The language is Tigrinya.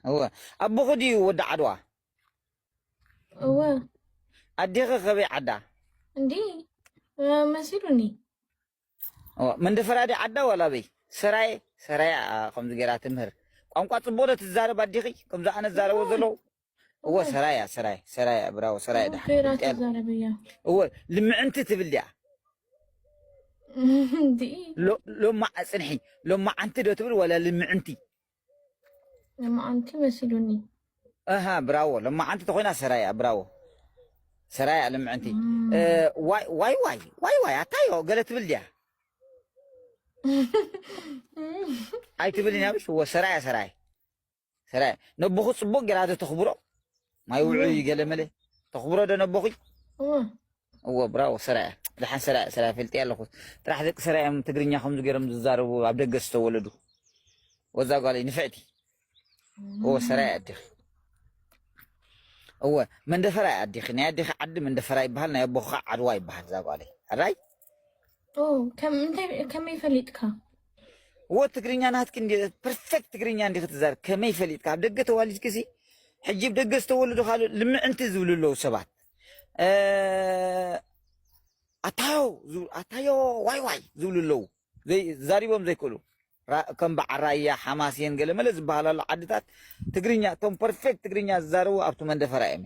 እወ ኣቦኺ ድዩ ወዲ ዓድዋ? እወ። ኣዴኺ ከበይ ዓዳ? እንዲ መሲሉኒ። እወ መንደፈራ ድያ ዓዳ ዋላ ኣበይ? ሰራየ ሰራየ እያ ከምዚ ገይራ ትምህር። ቋንቋ ጽቡቕ ዶ ትዛረብ ኣዴኺ ከምዚ ኣነ ዝዛረቦ ዘለኹ? እወ ሰራየ እያ ሰራየ ሰራየ እያ ብራቮ ሰራየ ጽቡቕ ደሓን ገይራ ፍልጥ እያ። ትዛረብ እያ። እወ ልምዕንቲ ትብል ድያ? እንዲ ሎ- ሎማ ጽንሒ ሎማዓንቲ ዶ ትብል ዋላ ልምዕንቲ? ለማዓንቲ መሲሉኒ እሃ ብራዎ ለማዓንቲ ተኾይና ሰራያ ብራዎ ሰራያ ልምዕንቲ ዋይ ዋይ ዋይ ዋይ ዋይ ኣታዮ ገለ ትብል ድያ ኣይትብልን ያብሽ ወ ሰራያ ሰራያ ሰራያ ነቦኹ ፅቡቅ ገራዶ ተኽብሮ ማይ ውዑይ ገለ መለ ተኽብሮ ዶ ነቦኹይ እወ ብራቮ ሰራየ ድሓን ሰራየ ሰራየ ፈልጥየ ኣለኹ ጥራሕ ደቂ ሰራየ እዮም ትግርኛ ከምዚ ገይሮም ዝዛረቡ ኣብ ደገ ዝተወለዱ ወዛ ጓለይ ንፍዕቲ እወ ሰራየ ኣዲኺ እወ መንደፈራ እያ ኣዲኺ ናይ ኣዲኺ ዓዲ መንደፈራ ይበሃል ናይ ኣቦኺ ከዓ ዓድዋ ይበሃል እዛ ጓለይ ኣራይ ከመይ ፈሊጥካ እወ ትግርኛ ናትኪ እንዲ ፐርፌክት ትግርኛ እንዲ ክትዛር ከመይ ፈሊጥካ ኣብ ደገ ተዋሊድኪ ሲ ሕጂ ብ ደገ ዝተወለዱ ካልእ ልምዕንቲ ዝብሉ ኣለዉ ሰባት ኣታዮ ኣታዮ ዋይ ዋይ ዝብሉ ኣለዉ ዛሪቦም ዘይክእሉ ከም በዓል ራያ ሓማሴን ገለመለ ዝበሃላሉ ዓድታት ትግርኛ እቶም ፐርፌክት ትግርኛ ዝዛረቡ ኣብቲ መንደፈራ እዮም